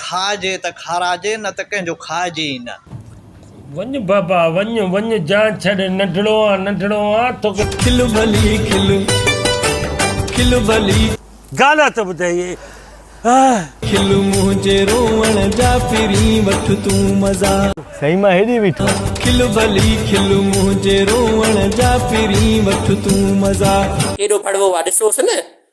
کائجي ته کاراجي، نه ته ڪنهن جو کائجي ئي نه. وڃ بابا وڃ، وڃ جان ڇڏ، ننڍڙو آن ننڍڙو آن توکي. کل ڀلي کل، کل ڀلي. گانا ته ٻڌائي آه. کل منهنجي روئڻ جا پھرين وٺ تون مزا. سائين مان هيڏي بيٺو. کل ڀلي کل منهنجي روئڻ جا پھرين وٺ تون مزا. ڪيڏو ڀڙوو آ ڏسوس نه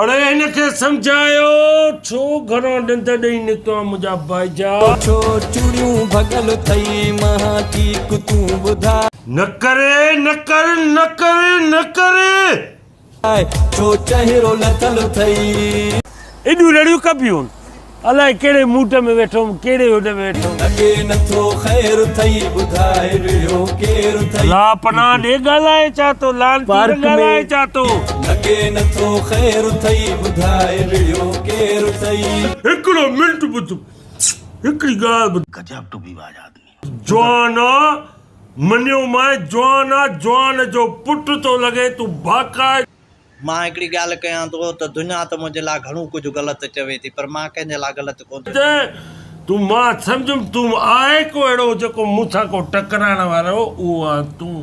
اڙي هن کي سمجهايو ڇو گهران ڏند ڏئي نڪتو آهين منهنجا ڀائيجا. ڇو چوڙيون ڀڳل اٿئي مها ٺيڪ تون ٻڌاء. نه ڪري نه ڪر نه ڪري نه ڪري. ڇو چهرو لٿل اٿئي. ايڏيون رڙيون ڪبيون. الائي ڪهڙي موٽ ۾ ويٺو هوم ڪهڙي هوڏ ۾ ويٺو هوم. لڳي نٿو خير ٿئي ٻڌاء ويڙهو ڪير ٿئي. لا پناهه ڏي ڳالهائي ڇا ٿو لعنتي نه ڳالهائي ڇا ٿو. لڳي نٿو خير ٿئي ٻڌاء ويڙهو ڪير ٿئي. هڪڙو منٽ ٻڌ هڪڙي ڳالهه ٻڌ. گجاب ٽوپي باز آدمي. جوان آ منيو مانء جوان آ جوان جو پٽ ٿو لڳين تون ڀاڪائي. مان هڪڙي ڳالهه ڪيان ٿو ته دنيا ته منهنجي لاء گهڻو ڪجهه غلط چوي ٿي پر مان ڪنهن جي لاء غلط ڪونه ٿو چوان. تون مان سمجهيم تون آهي ڪو اهڙو جيڪو مون سان ڪو ٽڪرائڻ وارو اهو آهن تون.